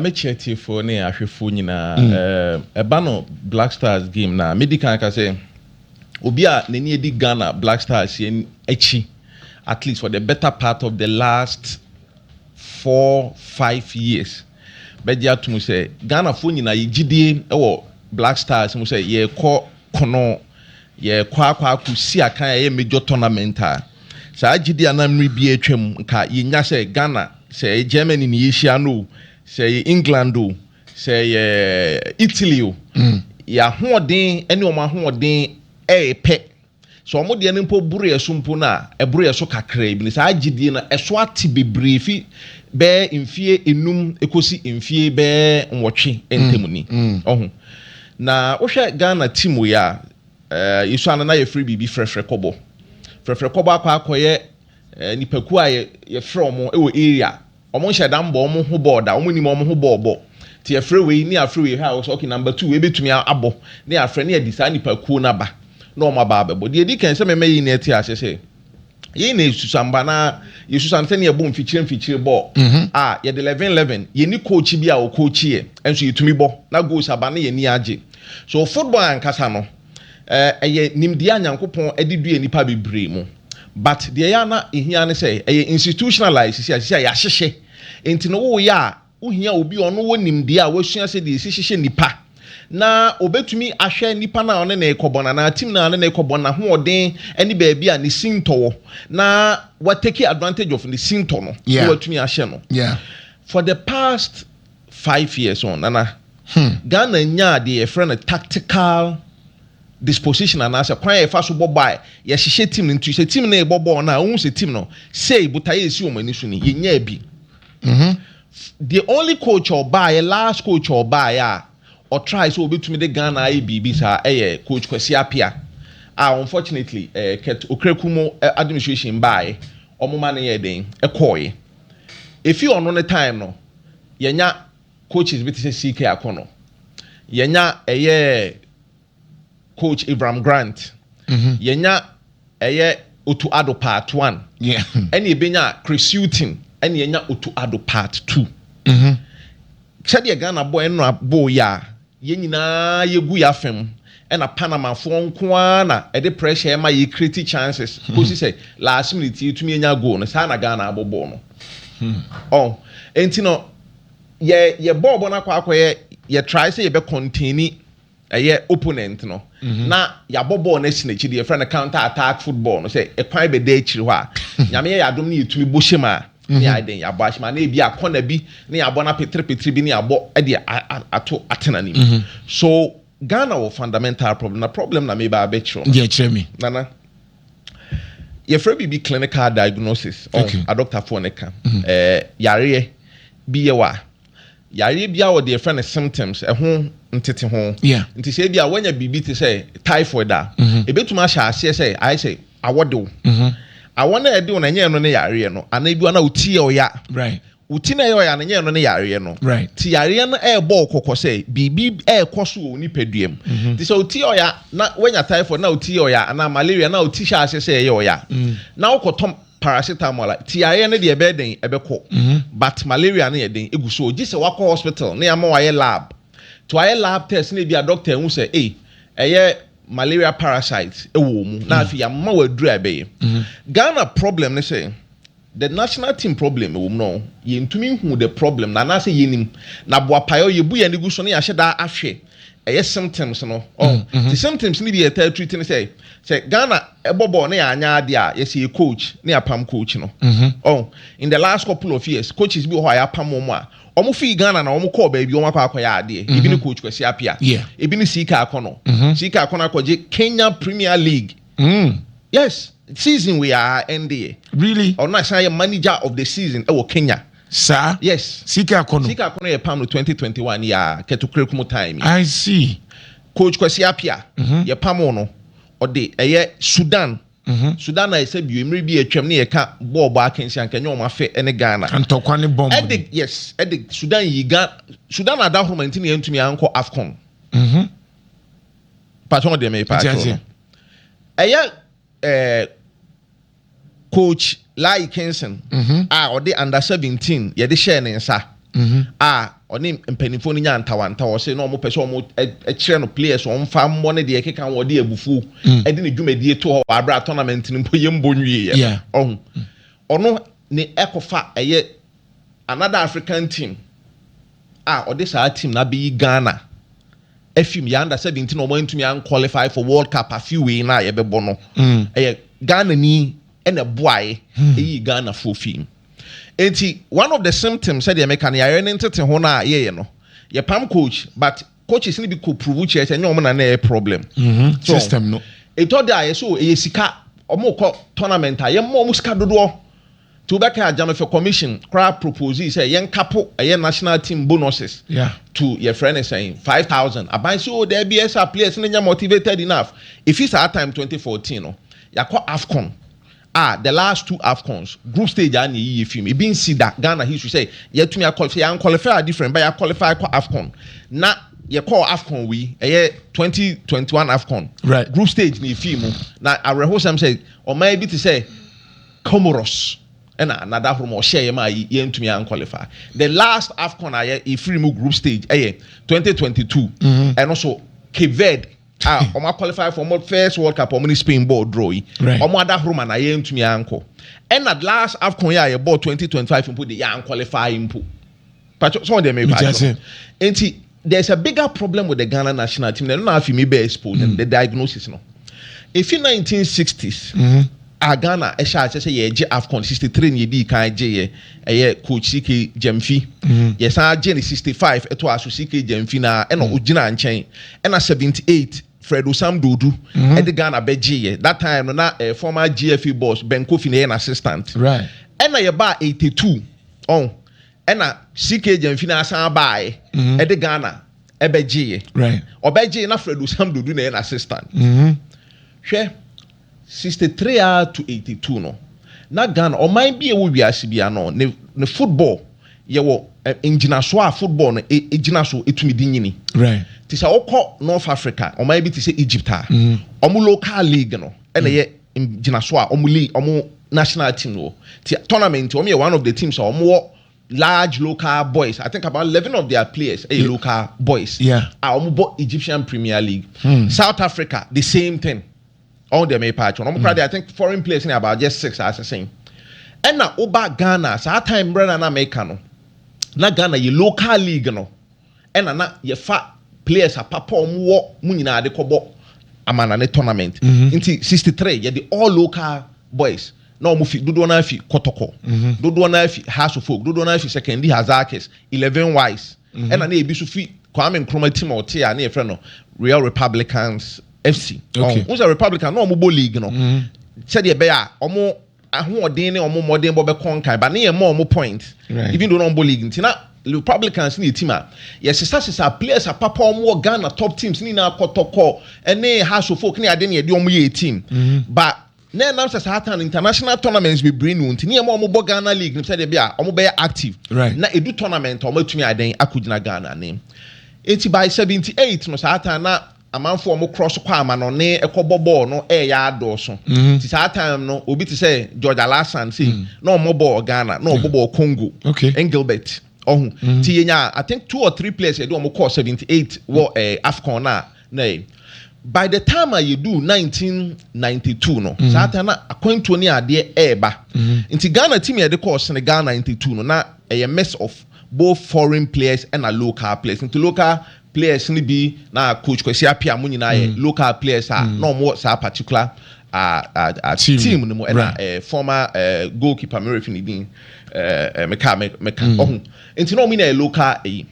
me kyerɛ atiefo ne ahwɛfo nyinaa. Ɛba no Black Stars game no a, mɛdi kan aka sɛ, obi a n'ani adi Ghana Black Stars yɛn akyi at least for the better part of the last four, five years bɛgye atom sɛ Ghanafoɔ nyinaa yɛ gyidie wɔ Black Stars mu sɛ yɛrekɔ kono, yɛrekɔ akɔ akɔsi akan a ɛyɛ major tournament a, saa gyidie a na mmerɛ bi atwam nka yɛnya sɛ Ghana sɛ ɛyɛ Germany na yɛhyia no o, sɛ ɛyɛ England o, sɛ ɛyɛ Italy o, mm. yɛ ahoɔden ne wɔn ahoɔden ɛyɛ pɛ. Sɛ wɔn deɛ no mpo boro yɛ so mpo no a, ɛboro yɛ so kakraa bi. Saa gyedie no ɛso ate bebree fi bɛɛ mfie enum ekosi mfie bɛɛ nwɔtwe ntam ni. Mm, mm. Ɔho. Na wohwɛ Ghana team wei a, eh, yɛsua no na yɛfrɛ biribi frɛfrɛ kɔbɔ. Frɛfrɛ kɔbɔ akɔ akɔyɛ Nnipakuo a yɛfrɛ wɔn wɔ area a, wɔnhyɛ da mmɔ wɔn ho bɔɔl da, wɔnnim wɔn ho bɔɔl bɔ. Nti yɛfrɛ wei ne yɛafrɛ wei, ha a wɔsɛ okay number two wei bɛtumi abɔ na yɛafrɛ na yɛde saa nnipakuo no aba na wɔn aba abɛbɔ. Deɛ ɛdi kan sɛ mɛma yɛn nyinaa ate aseɛ sɛ, yei na yɛsusamma na yɛsusam sɛdeɛ yɛbɔ mfikyire mfikyire bɔɔl a yɛde lɛven lɛven, yɛnni coach bi a ɔcoachi yɛ nso yɛtumi bɔ na goals aba na yɛn ani agye. So football ankasa no ɛyɛ nimdeɛ a Nyankopɔn de due nnipa bebree mu. but deɛ ɛyɛ a na ɛhia ne sɛ ɛyɛ institutionalized sisi a sisi a yɛahyehyɛ nti no woyɛ a wohia obi a ɔno wɔ nimdeɛ a wasua sɛ deɛ ɛsi hyehyɛ nipa na ɔbɛtumi ahwɛ nipa no a ɔne ne rekɔbɔ no anaa team no a ɔne ne rekɔbɔ no n'ahoɔden ne baabi a ne sintɔ wɔ na watake advantage of ne sintɔ no na Yeah. watumi ahyɛ no Yeah. for the past five years on Nana, Ghana nyaa deɛ yɛfrɛ no tactical disposition anaasɛ kwan a yɛfa so bɔ bɔɔl a yɛhyehyɛ team no nti sɛ team no rebɔ bɔɔl no a wohu sɛ team no sei botaeɛ a ɛsi wɔn ani so ni yɛnyaa bi the only coach a ɔbaeɛ last coach a ɔbaeɛ a ɔtrae sɛ ɔbɛtumi de Ghana ayɛ biribi saa ɛyɛ coach Kwasi Apia a unfortunately eh, Ket Okraku mu eh, administration baeɛ ɔmoma no yɛ den ɛkɔɔeɛ ɛfi ɔno ne time no yɛnya coaches bi te sɛ CK Akɔnɔ, yɛnya ɛyɛ coach Ibrahim Grant, mm-hmm. yɛnya ɛyɛ Otu Ado part one, ɛne yɛbɛnya Chris Hughton, ɛne yɛnya Otu Ado part two. Mm-hmm. Sɛdeɛ Ghana bɔ ɛno abo yɛ a Yɛn nyinaa yɛgu yɛn afa mu, ɛna Panamafoɔ nko ara na ɛde pressure ma yɛ create chances kɔsi sɛ last minute yɛtumi nya goal no, saa na Ghana abɔ bɔɔl no. Ɔho, ɛnti no yɛ yɛbɔɔ bɔɔl no akɔ akɔyɛ, yɛ try sɛ yɛbɛ contain ɛyɛ opponent no na yɛabɔ bɔɔl no asi n'akyi deɛ yɛfrɛ no counter attack football no, sɛ ɛkwan bɛda akyiri hɔ a Nyame yɛ yɛn adom na yɛtumi bɔ hyɛ mu a, ne ayɛ den, yɛabɔ ahyem, anaa ebi a kɔna bi ne yɛabɔ no apetrepetri bi ne yɛabɔ de ato atena ne mu. So Ghana wɔ fundamental problem? Na problem na meba abɛkyerɛ no. Deɛ kyerɛ me. Nana, yɛfrɛ biribi clinical diagnosis, ɔho, adɔktafoɔ no ka, ɛɛ, yareɛ bi yɛ wɔ a, yareɛ bi a wɔde yɛfrɛ no symptoms, ɛho nteteho. Yeah. Nti sɛ ebi a woanya biribi te sɛ typhoid a, mm-hmm. ebetumi ahyɛ aseɛ sɛ ayɛ sɛ awɔ de wo. Mm-hmm. Awɔ no a ɛde wo no ɛnyɛ ɛno ne yareɛ no, anaa ebi na wo ti yɛ ɔya. Right. Wo ti na ɛyɛ ɔya no ɛnyɛ ɛno ne yareɛ no. Right. Ti yareɛ no ɛrebɔ wo kɔkɔ sɛ biribi ɛrekɔ so wɔ wo nipadua mu. Mm-hmm. Ti sɛ wo ti yɛ ɔya na woanya typhoid na wo ti yɛ ɔya anaa malaria na wo ti hyɛ aseɛ sɛ ɛyɛ ɔya. Mm. Na wokɔtɔ Paracetamol a ti yareɛ no deɛ ɛbɛyɛ den ɛbɛkɔ but malaria no yɛ den ɛgu so o gye sɛ wakɔ hospital na yɛama wayɛ lab nti wayɛ lab test na ebia doctor ahu sɛ ei ɛyɛ malaria parasite ɛwɔ wo mu na afei yɛama wo aduru a ɛbɛyɛ Ghana problem ne sɛ the national team problem ɛwɔ mu no yɛntumi nhu the problem no anaasɛ yɛnim na boapaeɛ yɛbu yɛn ani gu so na yɛahyɛ da ahwɛ ɛyɛ symptoms no ɔho mm, mm-hmm. nti symptoms no bi yɛ taa treat no sɛ sɛ Ghana ɛbɔ bɔɔl na yɛanyɛ adeɛ a yɛsɛ yɛ coach na yɛapam coach no ɔho mm-hmm. in the last couple of years coaches bi wɔ hɔ a yɛapam wɔn a wɔn fii Ghana na wɔn kɔɔ baabi wɔn akɔ akɔyɛ adeɛ mm-hmm. ebi ne coach Kwesi Appiah ebi ne Sika Akɔnɔ Sika Akɔnɔ akɔgye Kenya Premier League Mm yes season wei aa ɛnde yɛ. Really. Ɔno na ɛsan yɛ manager of the season ɛwɔ Kenya. Saa. Yes. CK Akono. CK Akono yɛ pam no twenty twenty one yɛ aa kɛtokura kumu time yi. I see. Coach Kwasi Appiah mm-hmm. yɛ pam no ɔde ɛyɛ Sudan. Mm-hmm. Sudan na ɛsɛ bio mmiri bi atwam ne yɛ ka bɔɔl bɔ akansi ankanyɛ wɔn afɛ ɛne Ghana. Ntɔkwa ne bɔmb. Ɛde yes ɛde Sudan yi Ghana Sudan adahoroma nti na yɛntumi ankɔ AFCON. Mm-hmm. pàtó ɔde mi pàtó no ɛyɛ ɛɛ coach lai kinson mhm. a ɔde under seventeen yɛde hyɛɛ ne nsa mhm. a ɔne mpanyinfoɔ no nya ntawantawa ɔsɛ na wɔn pɛ sɛ wɔn kyerɛ no players wɔn fa mmɔ ne deɛ keka wɔn de abufuo mm. ɛde ne dwumadie to hɔ wɔ abira tournament no mpo yɛ mbɔ nwie yɛ ɔho ɔno ne ɛkɔfa ɛyɛ. Another African team a ɔde saa team no abɛyi Ghana afim yɛ under seventeen na wɔantumi an qualify for World Cup afi wei no a yɛbɛbɔ no mm. ɛyɛ Ghana ni ɛna ɛboae hmm. ɛyi Ghana foɔ fim nti one of the symptoms sɛdeɛ meka no yɛayɛ ne ntete ho no a yɛyɛ no yɛpam coach but coaches no bi kɔ prove kyerɛ sɛ ɛnyɛ wɔn na na ɛyɛ problem. Mhm, system no. Ɛtɔ da a yɛ so ɛyɛ sika wɔn kɔ tournament a yɛn mɔ wɔn sika dodoɔ nti wobɛka agya no fɛ commission koraa propose sɛ yɛn kapo ɛyɛ national team bonuses yeah. to yɛfrɛ ne sɛn five thousand aban si o oh, dɛbi ɛsa players no nyɛ motivated enough efi saa time twenty fourteen no yakɔ afcon Ah the last two Afcons group stage a na eyiye fi mu ebi nsi da Ghana history sɛ yɛatumi akɔl sɛ yɛankɔlify a different but yɛakɔlify kɔ Afcon na yɛkɔɔ Afcon wei ɛyɛ twenty twenty one Afcon Right. group stage na efii mu na awerɛhosɛm sɛ ɔman bi te sɛ Comoros ɛna Nada Horoma ɔhyɛɛ yɛ maa yi yɛntumi ankɔlify the last Afcon a yɛ efiri mu group stage ɛyɛ twenty twenty two ɛno so Cape Verde a wɔn aqualify for wɔn first world cup wɔn ne spain bɔɔl draw yi wɔn ada horo ma na yɛn ntumi ankɔ ɛna last afcon yi a yɛ bɔɔl twenty twenty five mpo de yɛ anqualify mpo patro sɔn deɛ mɛkɔ akyerɛ nti there is a bigger problem with the ghana national team na ɛno na afi mi bɛ expo mm. the diagnosis no efi nineteen sixties. Mm-hmm. a ghana ɛhyɛ akyɛ sɛ yɛgye afcon sixty three na yɛdi kan gye yɛ Ɛyɛ coach CK Gyamfi. Yɛsan agye no sixty five ɛtoa so CK Gyamfi no ara ɛna ɔgyinaa nkyɛn. Ɛna seventy eight Fred Osam Dodu ɛde Ghana bɛgyeeɛ. That time no na eh, former GFA boss Ben Kofi na ɛyɛ n'assistant. Ɛna yɛbaa eighty two ɔho ɛna CK Gyamfi no ara san baaɛ ɛde Ghana ɛbɛgyeeɛ. Ɔbɛgyee na Fred Osam Dodu na ɛyɛ n'assistant. Hwɛ Sixty three ara to eighty two no, na Ghana, ɔman bi a ɛwɔ wiase biara no, ne ne football yɛ wɔ ngyinasoɔ a football no gyina so tumi de nyini. Nti sɛ wokɔ North Africa, ɔman bi te sɛ Egypt a, wɔn local league no na ɛyɛ ngyinasoɔ a wɔn league, wɔn national team no wɔ. Nti tournament nti, wɔyɛ one of the teams a wɔwɔ large local boys. I think about eleven of their players yɛ local boys a wɔbɔ Egyptian Premier League. South Africa, the same thing. ɔn deɛ mepa akyɛ ɔmo kora deɛ I think foreign players ne about just six asesɛn ɛna woba Ghana saa time mmerɛ na na meka no na Ghana yɛ local league no ɛna na yɛfa players apapa ɔmo wɔ mo nyinaa de kɔbɔ amana ne tournament mm-hmm. nti 63 yɛde all local boys na ɔmo fi dodoɔ no afi kɔtɔkɔ mm-hmm. dodoɔ no afi house of folk dodoɔ no afi secondary hazakis eleven wise mm-hmm. ɛna na ebi so fi kwame nkrumah team a ɔte a ne yɛfrɛ no real republicans fc ɔn n sɛ republican na wɔn bɔ league no mm-hmm. sɛdeɛ ɛbɛyɛ a wɔn ahoɔden ne wɔn mmɔden bɔ bɛkɔ nkae ba ne yɛn mma wɔn point even though na wɔn bɔ league nti na republicans ne yɛ team a yɛsesasesa players apapa wɔn wɔ ghana top teams ne nyinaa kɔtɔkɔ ɛne hasofok ne ade ne yɛde wɔn yɛ team mm-hmm. but na ɛnam sɛ saa tan international tournaments bebree ni nti nneɛma wɔn bɔ ghana league no sɛdeɛ bi a wɔn bɛyɛ active right. na edu tournament a wɔn atumi adan akɔgyina ghana ne nti by seventy eight no saa tan na amanfoɔ a wɔkorɔ so kɔ amanɔne kɔbɔ bɔɔl no reyɛ adɔɔso. Nti saa time no, obi te sɛ George Alassane sei, na ɔmmɔ bɔɔl Ghana, na ɔbɔ bɔɔl Congo, Engelbert, ɔhu. Nti yɛnyaa I think two or three players a yɛde wɔn kɔɔ seventy eight wɔ eh, Afcon no a na eh, by the time a yɛduu nineteen ninety two no, saa time na akwantuo ne adeɛ reba. Nti Ghana team a yɛde kɔɔ Senegal ninety two no, na ɛyɛ mix of both foreign players ɛna local players. Nti local players no bi na coach Kwasi Appiah mo nyinaa yɛ mm. local players a mm. na wɔn wɔ saa particular uh, uh, uh, team. team no mu ɛna right. uh, former uh, goalkeeper mi refi ne din uh, meka meka mm. ɔho nti na wɔn nyinaa yɛ local ɛyi eh,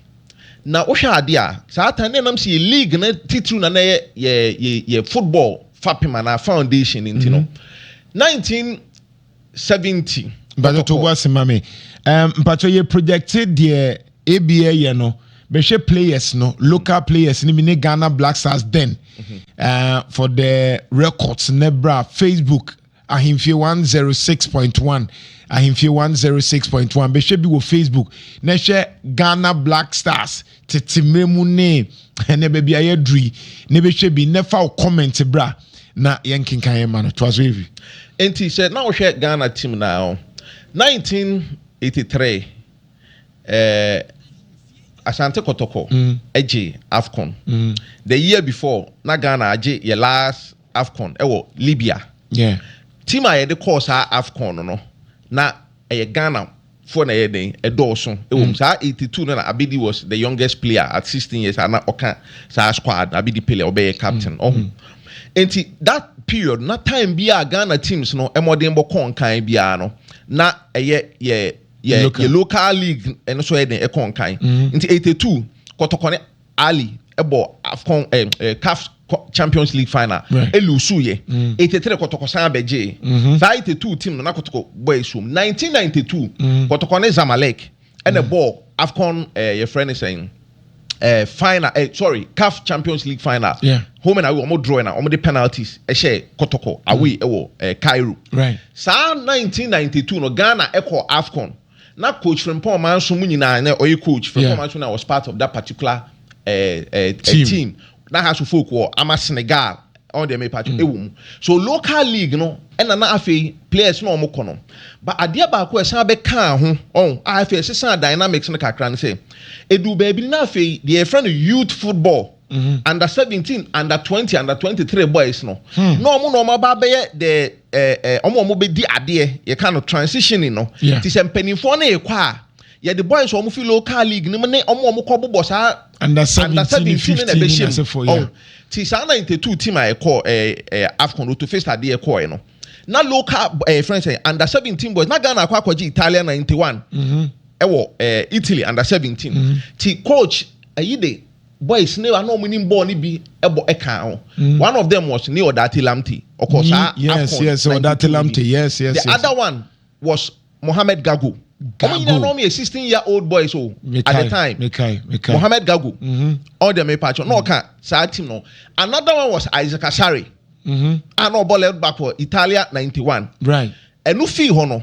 na wohwɛ adeɛ a saa tan ne nam sɛ yɛ league no titiriw na na yɛ yɛ yɛ football fapem anaa foundation nti no mm-hmm. nineteen. seventy. mpatsɔ to bo ase ma me um, mpatsɔ yɛ projecte deɛ ebi ɛyɛ no bɛhwɛ players no local players no bi ne Ghana Black Stars then mhm. uh, for the records ne bra Facebook ahemfie one zero six point one ahemfie one zero six point one bɛhwɛ bi wɔ Facebook na hwɛ Ghana Black Stars tete mmerɛ mu ne ɛnɛ baabi a yɛaduru yi na ɛbɛhwɛ bi na fa wo comment bra na yɛnkenkan yɛ ma no toa so ɛvi nti sɛ na wohwɛ Ghana team no a 1983 eh, Asante Kɔtɔkɔ mm. gye AFCON mm. the year before na Ghana agye yɛ last AFCON ɛwɔ Libya yeah. team a yɛde kɔɔ saa AFCON no no na ɛyɛ Ghana foɔ na ɛyɛ dɛn ɛdɔɔso wɔ mu saa eighty two no na Abedi was the youngest player at sixteen years a na ɔka saa squad no Abedi Pele a ɔbɛyɛ captain ɔho nti that period na time bi a Ghana teams no mmɔdenbɔ kɔ nkan biara no na ɛyɛ yɛ yɛ yɛ local league ɛno so ɛyɛ den ɛkɔ nkan nti eighty two kɔtɔkɔne. Ahly bɔ AFCON eh, eh, CAF Champions League final right. elusu yɛ mm. 83 kɔtɔkɔ san abɛgye mm-hmm. saa 82 team no na kɔtɔkɔ bɔ esuom 1992 mm. kɔtɔkɔ ne Zamalek ɛna mm. bɔ AFCON eh, yɛfrɛ ne sɛn eh, final eh, sorry CAF Champions League final yeah. home and away wɔn draw na wɔn de penalties ɛhyɛ kɔtɔkɔ away ɛwɔ eh, Cairo right. saa 1992 no Ghana ɛkɔ AFCON Na coach frimpong ɔman so mu nyinaa na ɔyɛ coach frimpong ɔman so na was part of that particular eh, eh, team. Eh, team na ha so folk wɔ ama senegal ɔn deɛ mepa kyɛ ɛwɔ mu so local league no ɛna na afei players na wɔn kɔ no ba adeɛ baako ɛsan bɛkaa ho ɔn a afei ɛsesan dynamics no kakra no sɛ ɛdu baabi no na afei deɛ yɛfrɛ no youth football under seventeen under twenty under twenty three boys no na wɔn na wɔn aba abɛyɛ the ɛɛ wɔn a wɔn bɛdi adeɛ yɛ ka no transitioning no ti sɛ mpanimfoɔ no rekɔ a yɛde boys wɔn fi local league no mu ne wɔn a wɔn kɔ bobɔ saa under seventeen ne na ɛbɛhyɛ mu ɔn ti saa ninety two team a ɛkɔ ɛɛ ɛɛ afcon roto face adeɛ kɔɛ no na local ɛɛ friends ɛ under seventeen boys na ghana akɔ akɔgye italian ninety one ɛwɔ ɛɛ italy under seventeen ti coach ɛyi de. Boys no a na wɔn nim bɔɔl no bi bɔ ɛkaa ho. One of them was ne Odate Lamte. Ɔkɔ saa Afcon. Yes, yes, Odate Lamte. Yes, yes, yes. The other one was Mohamed Gago. Gago. Wɔn nyinaa na wɔn yɛ sixteen year old boys o. Oh, at the time. Mekai, mekai. Mohamed Gago. Ɔn deɛ mepa kyɛ. Na ɔka saa team no. Another one was Isaac Asare. Mm-hmm. A na ɔbɔ left back wɔ Italia ninety one. Right. Ɛnu fii hɔ no.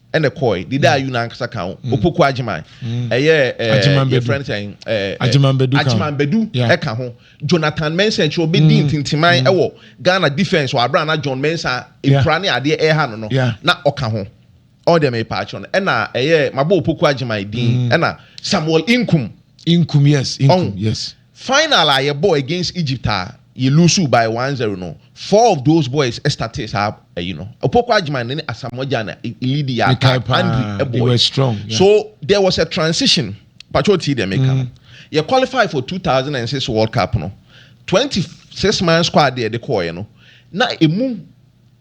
ɛna ɛkɔɔe. Dede Ayu no ankasa ka ho, Opoku Agyeman, ɛyɛ ɛɛ yɛfrɛ no sɛn ɛɛ Agyeman Badu ka ho. Agyeman Badu Yeah. ɛka ho. Jonathan Mensah akyire ɔbɛdii ntintiman ɛwɔ Ghana defence wɔ abere a na John Mensah Yeah. nkura ne adeɛ ɛɛha no no Yeah. na ɔka ho. Ɔɔ deɛ meepɛ akyerɛ no. Ɛna ɛyɛ mabɔ Opoku Agyeman din ɛna Samuel Inkum. Inkum yes, Inkum ɔho. yes. Final a yɛ bɔɔ against Egypt a yɛ loose by one zero no four of those boys startee saa ayi no. Opoku Agyman ne Asamoah Gyan na lead yɛ attack, Andre bɔɔ yi. So there was a transition, mpakyɛ wo tie deɛ me reka no. Yɛ qualify for two thousand and six world cup no, twenty six man squad a yɛde kɔɔeɛ no na ɛmu.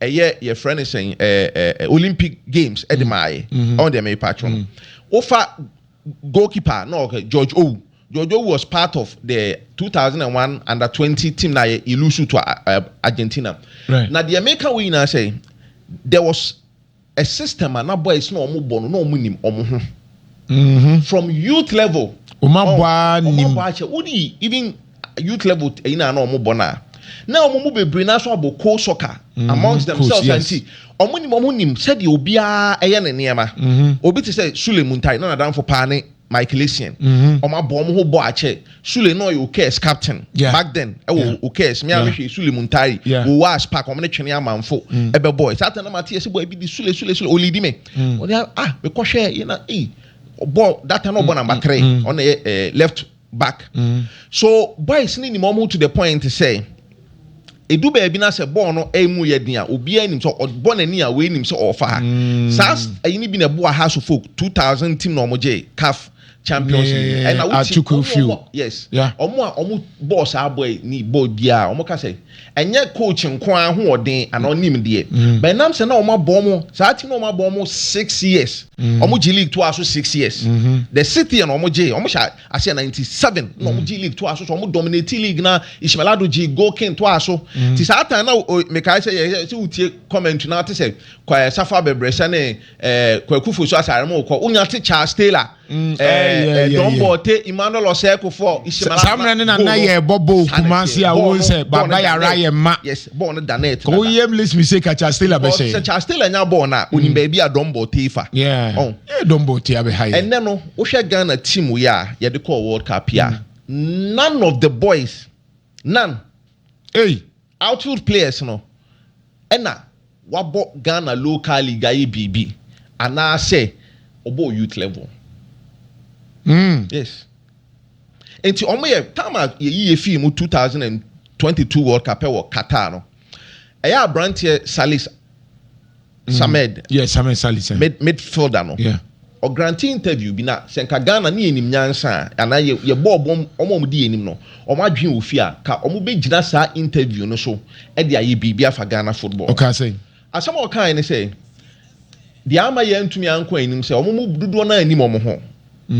ɛyɛ yɛfrɛ no sɛn ɛɛ olympic games ɛde mm. maaye mm-hmm. ɔn deɛ mepa atwere no mm-hmm. wofa goalkeeper na ɔkɛ george owu george owu was part of the 2001 under 20 team na yɛ ilusu to uh, uh, argentina na deɛ meka wo nyinaa sɛ there was A system a na boys na ɔmo bɔ no na ɔmo nim ɔmo ho from youth level ɔmo abɔ ɔn aa ɔmo nim. abɔ akyɛ wo di even youth level t ɛyi na na ɔmo bɔ no a na ɔmo mu bebree na so abɔ coal soccer amongst Mhm coach themselves a yes. nti ɔmo nim ɔmo nim sɛdeɛ obiara ɛyɛ ne nneɛma Mhm. obi te sɛ Sule Muntayi na nadamfo paa ne Michael Essien. Mm-hmm. Wɔn abɔ wɔn ho bɔ akyɛ. Sule na ɔyɛ Okers captain. Yeah. Back then ɛwɔ yeah. Okers. Mi a mi hwɛ Sule Muntari. Yeah. Wɔ Wars Park wɔn ne twene amanfo. Mm. Ɛbɛ bɔ. Saa tɛn na ma ti yɛ si bɔ ebi di Sule Sule Sule olidi mi. Mm. Ɔdi ah mi kɔ hwɛ yɛ na ee bɔ that time na ɔbɔ number three. Ɔna yɛ left back. Mm. So boys ni ni mo to the point sɛ. Edu baabi na sɛ bɔɔl no emu yɛ den a, obiara nim sɛ ɔbɔ n'ani a wei nim sɛ ɔrefa ha. Mm. Saa ayi no bi na ɛboa Hearts of Oak 2000 team na wɔn gye CAF Champions League. Ne Ɛna wote Atuku wɔn Few. wɔn yes. Yeah. Wɔn a wɔn bɔɔ saa bɔ yi ni bɔ biara wɔn ka sɛ ɛnyɛ coach nko ara ho ɔden ana ɔnim deɛ. Mm. But ɛnam sɛ na wɔn abɔ wɔn saa team na wɔn abɔ wɔn six years. Mm. Wɔn gye league to aso six years. Mm-hmm. The sixth year na wɔn gye wɔn hyɛ aseɛ ninety seven na wɔn gye league to aso so wɔn dominate league na Ismail Ado gye goal king to aso mm. ti saa tan na mekae sɛ yɛ sɛ wotie comment na ate sɛ kwa safa bɛbrɛsɛ ne ɛɛ eh, kwakufo so asare mu kɔ wonya te Charles Taylor mm, eh, eh, Don Bote Emmanuel Osɛkofo Ismail Ado samina ne na na yɛ bɔ bɔɔl kumasi a wɔn sɛ baba yara yɛ ma yes bɔɔl no da net kò wọ́n yẹ milis mi se ka Charles Taylor bɛ sɛ Charles Taylor nya bɔɔl na onim baabi a Don Bote fa yeah oh. Don Bote abɛ ha yɛ ɛnɛ no Wohwɛ Ghana team wei a yɛde kɔɔ world cup yi a, none of the boys, none, ei, outfield players no na wabɔ Ghana local league ayɛ biribi anaasɛ ɔbɔɔ youth level. Yes. Nti wɔn yɛ time a yɛyi yɛ fii mu two thousand and twenty two World Cup wɔ Qatar no, ɛyɛ aberanteɛ Salis mm. samed yeah, samed sali sɛ mid, midfielder no yeah. ɔgrante interview bi na sɛ nka ghana ne yɛnim nyansa a anaa yɛbɔ ɔbɔm ɔma ɔmo di yɛnim no ɔmo adwene wɔ fie a ka ɔmo bɛgyina saa interview no so ɛde ayɛ biribi afa ghana football ɔkaa sɛ asɛm a ɔkae ne sɛ deɛ ama yɛntumi ankɔ anim sɛ ɔmo mu dodoɔ no anim ɔmo ho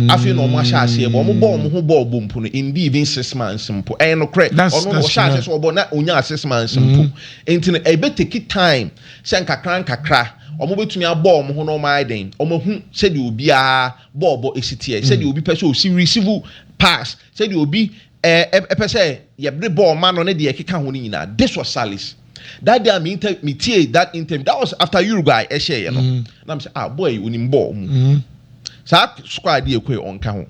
Afei na wɔahyɛ aseɛ bɔ. Wɔbɔ wɔn ho bɔɔl bɔ mpo no, indeed even six months mpo. Ɛyɛ nokorɛ. Ɔno na ɔhyɛ aseɛ sɛ ɔbɔ na ɔnyaa six months mpo. Nti no ɛbɛ take time sɛ nkakra nkakra wɔbɛtumi abɔ wɔn ho na wɔayɛ dɛn, wɔahu sɛdeɛ obiara bɔɔl bɔ si teɛ, sɛdeɛ obi pɛ sɛ ɔsi receive pass, sɛdeɛ obi Ɛ ɛ pɛ sɛ yɛ de bɔ ɔma no ne deɛ ɛkeka ho no nyinaa this was Sally's that day a me inter me tie that interview that was after Uruguay ɛhyɛ yɛ no na me sɛ ah boy yi onim bɔɔl mu saa squad adeɛ ɛkɔ yi ɔnka ho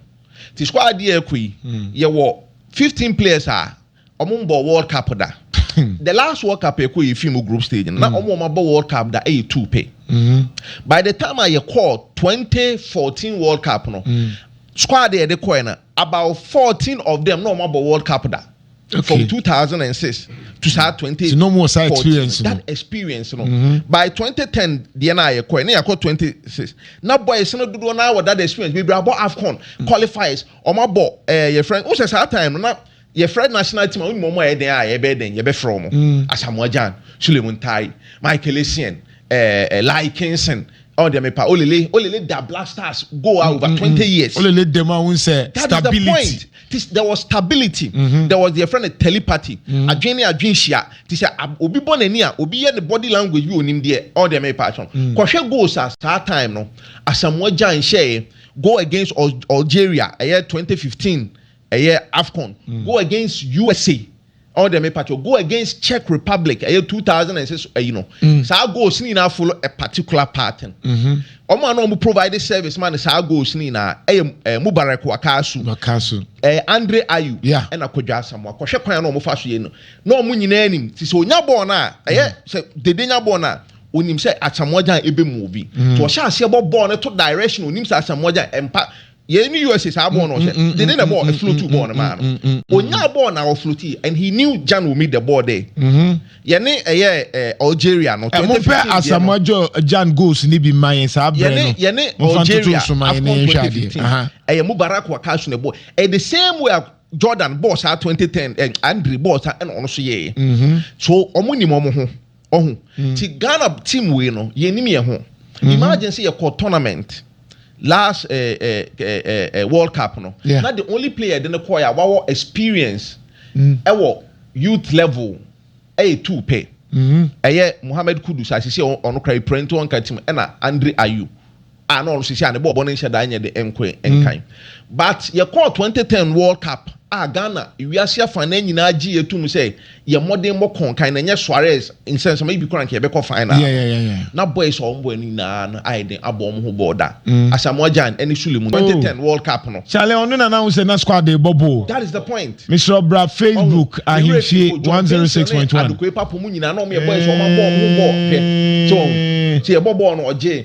ti squad adeɛ ɛkɔ yi yɛ wɔ fifteen players a ɔmo mbɔ World Cup da the last World Cup ɛkɔ yɛ fi mu group stage no na ɔmo ɔmo abɔ World Cup da ɛyɛ two pɛ by the time a yɛ kɔɔ twenty fourteen World Cup no squad yɛ de kɔɛ no. About fourteen of them na ɔmo abɔ world cup da okay. from two thousand and six to saa twenty fourteen that experience no mm -hmm. by twenty ten deɛ na ayɛ kɔɛ ne yɛ kɔ twenty six na boys no dodoɔ na wɔ that experience bebree abɔ afcon mm. qualifiers ɔmo abɔ ɛɛ yɛ fɛn o sɛ saa time no na. Yɛfrɛ national team a wonim wɔn a ɛyɛ dɛn a yɛbɛyɛ dɛn yɛbɛfrɛ wɔn Asamoah Gyan, Suleiman Ntaye, Michael Essien, eh, Lai Kinson, ɔn deɛ mepa Olele Olele da Black Stars goal a over 20 years. Olele dɛm a wohu sɛ That is the stability. point. Tis, there was stability. There was deɛ yɛfrɛ no telepathy. Adwene ne adwene hyia. Te sɛ ab- obi bɔ n'ani a, obi yɛ ne body language bi onim deɛ ɔn deɛ mepa so. Kɔhwɛ goals a saa time no Asamoah Gyan hyɛɛ goal against Al- Algeria ɛyɛ 2015 Ɛyɛ Afcon go against USA ɔwɔ dɛ me pato go against Czech Republic ɛyɛ two thousand and six ɛyi no mm. saa goals ni nyinaa follow a particular pattern wɔn mm-hmm. a na wɔn provide service ma ne saa goals ni nyinaa ɛyɛ ɛɛ eh, Mubarak Wakasu Wakasu ɛɛ eh, Andre Ayew ɛna Kodwo Asamoah kɔhwɛ kwan a na wɔn fa so yɛ no na wɔn nyinaa nim ti sɛ onya bɔɔl no a ɛyɛ mm. sɛ dede nya bɔɔl no a onim sɛ Asamoah gyan ebe mu obi mm. to ɔhyɛ aseɛ bɔ bɔɔl no to direction onim sɛ Asamoah gyan mpa. Yei ne USA saa bɔɔl no ɔhyɛ no dede na ɛbɔɔ ɛflotu bɔɔl no maa no ɔnyaa bɔɔl na ɔflotii and he knew Gyan will meet the ball there yɛne ɛyɛ Algeria no 2015 deɛ no Ɛmompɛ Asamoah Gyan goals no bi mma yɛn saa berɛ no yɛne Algeria AFCON 2015 ɛyɛ Mubarak Wakasu na ɛbɔɔ ɛyɛ the same way a Jordan bɔɔ saa 2010 Andre bɔɔ saa ɛna ɔno nso yɛɛ so ɔmo nim ɔmo ho. Ɔho ti Ghana team wei no yɛ nim yɛ ho mhm. imagine sɛ yɛ kɔ tournament last eh, eh, eh, eh, eh, world cup no yeah. na the only player de no kɔɔ yɛ a wawɔ experience mm. ɛwɔ youth level ɛyɛ two pɛ ɛyɛ mohammed kudus asisi ɔno kora epirɛ nti ɔnka tim ɛna andre ayew a na ɔrehyehyɛ a ne bɔɔlbɔ no nhyɛ da nyɛ den nkoe nkan. But yɛkɔɔ twenty ten World Cup a Ghana wiase afa no nyinaa gyeeɛ toom sɛ yɛn mmɔden mmɔ kɔnkan na ɛnyɛ Suarez nsɛnsɛma yi bi koraa nka yɛbɛkɔ final no. Na boys a wɔn boɛ no nyinaa no ayɛ den abɔ wɔn ho bɔɔl da. Asamoah Gyan ne Suleiman. Twenty ten World Cup no. Charlie ɔno na na wohu sɛ na squad no rebɔ ball. That is the point. Mesrɛ wo bra Facebook Ahemfie one zero six point one. John Benson ne Adokoe Papo mu nyinaa na wɔn yɛ boys a wɔn abɔ wɔn ho bɔɔl hwɛ. So wɔn. Sɛ yɛbɔ bɔɔl no ɔgyee.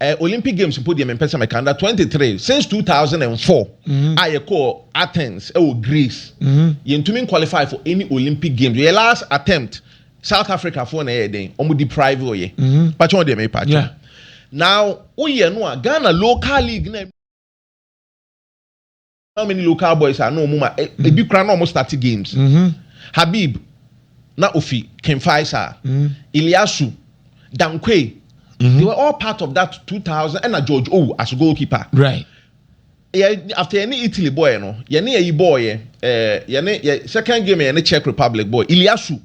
Eh, Olympic Games mpo deɛ mempɛ sɛ mɛka. Under 23, since 2004 a yɛkɔɔ Athens wɔ Greece, yɛntumi nqualify for any Olympic Games. Yɛ last attempt, South Africa foɔ na ɛyɛɛ dɛn? Wɔn deprive yɛ. Pakyɛ wɔn deɛ mepa akyɛ wo. Now, woyɛ no a, Ghana local league no a. how many local boys a na wɔn ma e, mm. ebi kura na wɔn start games mm-hmm. habib na ofi king faisal mm. iliasu dankwe mm-hmm. they were all part of that two thousand ɛna george owu as a goalkeeper. right yɛ after yɛne italy bɔɔyɛ no yɛne yɛyi bɔɔyɛ ɛɛ eh, yɛne yɛ second game yɛne czech republic bɔɔyɛ iliasu.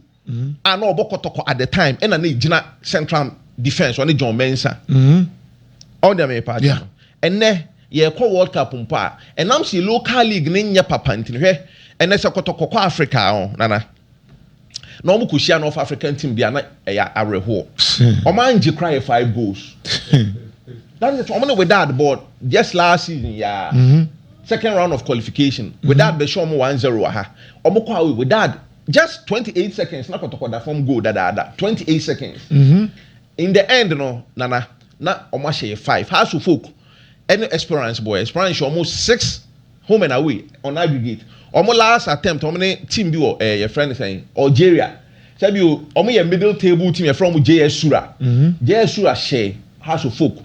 a na ɔbɔ kɔtɔkɔ at the time ɛna na egyina central defence ɔne John Mensah ɔwɔ deɛ mepa akyɛ no ɛnɛ yɛkɔ world cup mpo a ɛnam sɛ local league ne nyɛ papa ntini hwɛ ɛnɛ sɛ kɔtɔkɔ kɔ Africa ɔ nana na wɔn kɔ hyia North African team deɛ na ɛyɛ awerɛhoɔ wɔn angye kora yɛ five goals that is wɔn ne Wydad bɔ just last season yaa. Mm -hmm. second round of qualification. Wydad bɛhyɛ wɔn one zero wɔ ha wɔn kɔ awo Wydad. Just twenty eight seconds na kɔtɔkɔ da fam goal dadaada twenty eight seconds in the end no Nana na wɔn ahyɛ yɛ five Hearts of Oak ɛne Esperance bɔɛ Esperance hyɛ wɔn six home and away on aggregate wɔn last attempt wɔn ne team bi wɔ ɛɛ yɛfrɛ no sɛn Algeria sɛbi o wɔn yɛ middle table team yɛfrɛ wɔn JS Sura JS Sura hyɛ Hearts of Oak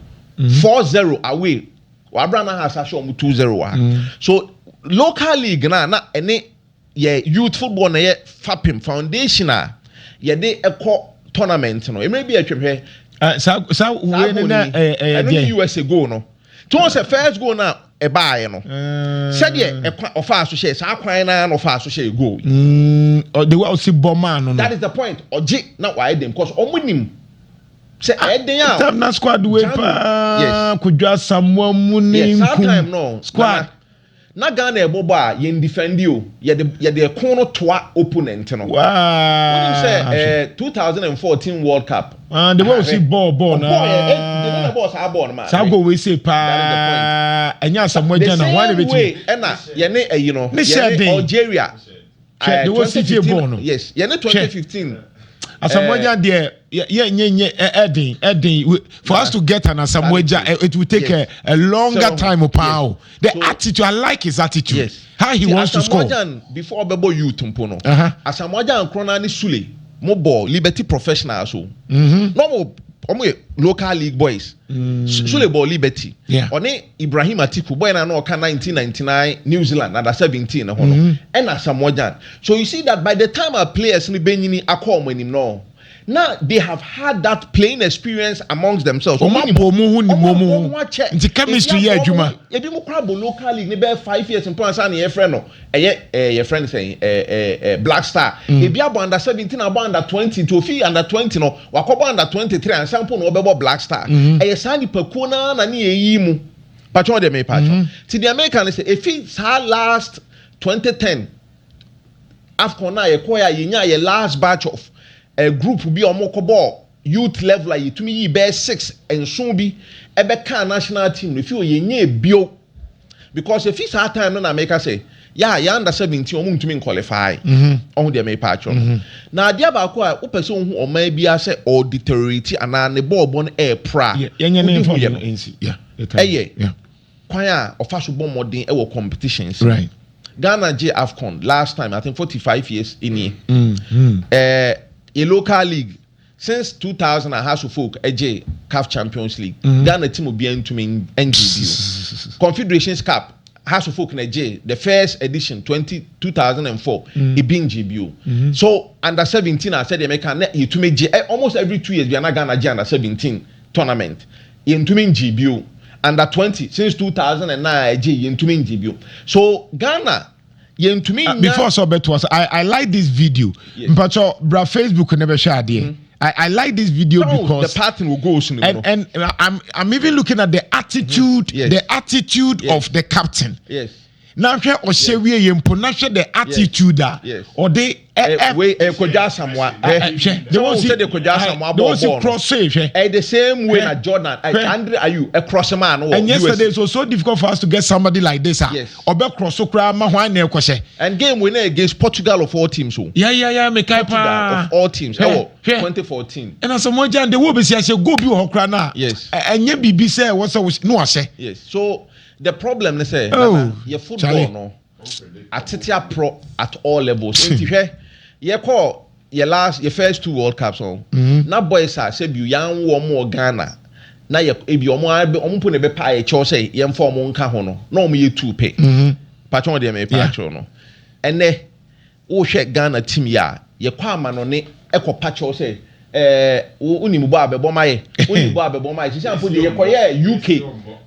four zero away wɔ abira na Hearts ahyɛ wɔn two zero wɔ ha so local league na na ɛne. yɛ youth football na ɛyɛ fapem, foundation a yɛde kɔ tournament no. Mmerɛ bi a ɛtwam hwɛ. Ah, saa saa wei no na ɛyɛ deɛ. Ɛno US goal no. Tí wọ́n sɛ first goal na ɛbaeɛ no. Sɛdeɛ ɛkwa ɔfaa so hyɛ saa kwan na na ɔfaa so hyɛ goal. Mm, the way ɔsi bɔ maa no no. That is the point. Ɔgye na wayɛ den because wɔn nim sɛ ɛyɛ den a. Tam na squad wei paa. Yes. Kodwa Samoa mu ne nkum. Yes, saa time no. Squad. Na Ghana ɛbɔ bɔ a yɛn defɛndi o, yɛde yɛde ɛko no toa opponent no. Wonim sɛ ɛɛ two thousand and fourteen world cup. Ah de bɔ osi bɔɔ bɔɔ na. Ɔbɔɔ yɛ ɛ de ne na bɔɔ saa bɔɔ no maa. Saa goal wei se paa ɛnyɛ asɛm wɔn agya na wɔn na bɛ ti. The same way ɛna yɛne ɛyi no yɛne Algeria. Hwɛ, de wɔ sigye bɔn no. Yes, yɛ ne 2015. Asamoah eh, deɛ yɛ nye nye ɛden eh, ɛden eh, for us to get an Asamoah Gyan eh, it will take yes. a, a longer so, time paa o. The so, attitude I like his attitude. Yes. How he See, wants to score. Asamoah before ɔbɛbɔ youth mpo no. Uh-huh. Asamoah Gyan korona ne Sule mo bɔ Liberty Professional so. Mm-hmm. Na wɔn yɛ local league boys. Mm. Sule bɔ Liberty. Ɔne Ibrahim Atiku, boy no a na ɔka nineteen ninety nine New Zealand under seventeen no ho no, ɛna Asamoah Gyan. So you see that by the time a players no bɛnyini akɔ wɔn anim no, na they have had that playing experience amongst themselves. Wɔn abɔ wɔn ho nim wɔn ho, nti chemistry yɛ adwuma. Ebinom koraa bɔ local league no bɛyɛ five years mpo ansa na yɛfrɛ no. Ɛyɛ ɛɛ yɛfrɛ no sɛn ɛɛ ɛɛ ɛɛ Black Star. Ebi abɔ under seventeen abɔ under twenty nti ofi under twenty no wakɔbɔ under twenty three ansa mpo na ɔbɛbɔ Black Star. Ɛyɛ saa nipakuo no ara na ne yɛn yiyi mu. Patwɛ wodeɛ mepa atwɛ wo. Nti deɛ meka ne sɛ efi saa last twenty ten Afcon no a yɛkɔɔɛ a yɛnyaa yɛ last batch of ɛɛ group bi a wɔkɔbɔɔ youth level a yɛtumi yii bɛyɛ six, nson bi bɛkaa national team no, ɛfiri hɔ yɛnyɛɛ bio because ɛfiri saa time no na meka sɛ yɛ a yɛ under 17 ɔmo ntumi nqualify ɔho deɛ mepa akyerɛ no na adeɛ baako a wopɛ sɛ wohu ɔman biara sɛ ɔɔ deteriorate anaa ne bɔɔlbɔ no ɛɛpra a wode hu yɛ no ɛyɛ kwan a ɔfa so bɔ mmɔden wɔ competitions mu. Ghana gyee Afcon last time, I think forty five years nie. Mm-hmm. Eh, yɛ local league since two thousand a Hearts of Oak gyee CAF Champions League. Mm-hmm. Ghana team obiara ntumi ngye bio. Confederations Cup Hearts of Oak na gyee the first edition twenty two thousand and four. Mm-hmm. Ebi ngye bio. Mm-hmm. So under seventeen a sɛdeɛ mɛka na yɛtumi gye eh, almost every two years bi a na Ghana gye under seventeen tournament. Yɛntumi ngye bio. Under twenty since two thousand and nine a ɛgyei yɛntumi ngye bio. So Ghana yɛntumi nnya. Before sɛ ɔbɛtoa so, I I like this video. Yes. Mpakyɛw bra Facebook na bɛhwɛ adeɛ. Mm-hmm. I, I like this video Don't because the pattern will go soon. And, and I'm I'm even looking at the attitude, mm-hmm. yes. the attitude yes. of the captain. Yes. na hwɛ ɔhyɛ wieɛ mpo na hwɛ the attitude a ɔde ɛkɔdwa asamoa hwɛ de wɔn si de kɔdwa asamoa bɔ ɔbɔ no cross hwɛ ɛyɛ the same way na Jordan Andre Ayew ɛcross maa no wɔ USA yesterday so so difficult for us to get somebody like this a ɔbɛ cross so koraa ma hwan na ɛkɔhyɛ and game wey na against Portugal of all teams o ya ya ya mekae paa of all teams ɛwɔ 2014 ɛna asamoa gyan de wo bɛsi ahyɛ goal bi wɔ hɔ koraa na ɛnyɛ biribi sɛ wɔsɛ no ahyɛ yes so The problem ne sɛ nana yɛ football no atete aprɔ at all levels nti hwɛ yɛ kɔ yɛ last yɛ first two world cups no mm-hmm. na boys a sɛ bi yan wɔ wɔn wɔ Ghana na yɛ ebi wɔn abɛ wɔn mpo na ɛbɛ pa yɛ kyɛw sɛ yɛn fa wɔn nka ho no na wɔn yɛ two pɛ mm-hmm. patwɛn deɛ mɛ pa akyerɛw no ɛnɛ. Wohwɛ Ghana team yi a, yɛkɔ amanɔne kɔpa kyɛw sɛ ɛɛ wonim bɔ a bɛbɔ ma yɛ, wonim bɔ a bɛbɔ ma yɛ. Seesei mpo deɛ yɛkɔyɛɛ UK,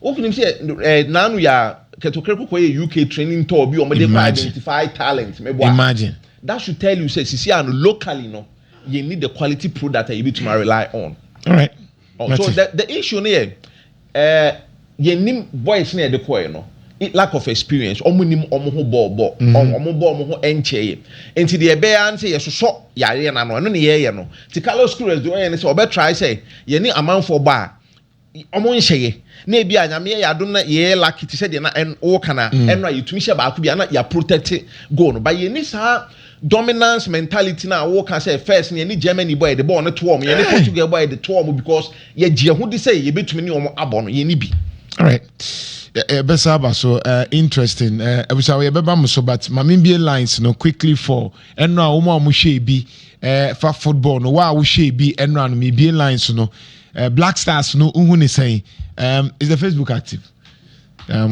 wonim sɛ ɛɛ naanu yi a Ketokere ko kɔyɛɛ UK training tour bi a wɔde kɔ identify talent mebɔ a, that should tell you sɛ seesei a no locally no yɛnni the quality product a yɛbɛtumi a rely on. Alright, mate. So the the issue no yɛ. Eh yɛnnim boys no a yɛde kɔɔɛ no lack of experience wɔn nnim wɔn ho bɔɔ bɔ wɔn bɔ wɔn ho nkyɛɛɛ nti deɛ ɛbɛyɛ ara ne sɛ yɛsosɔ yareɛ no ano ɛno na yɛɛyɛ no nti Carlos Queiroz deɛ ɔyɛ ne sɛ ɔbɛ try sɛ yɛne amanfoɔ bɔ a wɔn nhyɛyɛ na ebi a Nyame yɛ yɛn adom na yɛɛyɛ lucky te sɛ deɛ na ɛn wooka no a ɛno a yɛtumi hyɛ baako bi a na yɛaprotect goal no but yɛnni saa Dominance mentality no a wo ka sɛ first no yɛne Germany bɔ a yɛde bɔɔl no to wɔn, yɛne Portugal bɔ a yɛde to wɔn because yɛgye yɛn ho di sɛ yɛbɛtumi ne wɔn abɔ no, yɛnni bi. Alright, yɛbɛsan aba so, eh, interesting, eh, abusuafo yɛbɛba mo so but ma membie lines no quickly for ɛno a wɔn a wɔhwɛɛ bi eh, fa football no, wo a wohwɛɛ bi ɛno a no mebie lines no, eh, Black Stars no wohu ne sɛn, um, is the Facebook active? Um,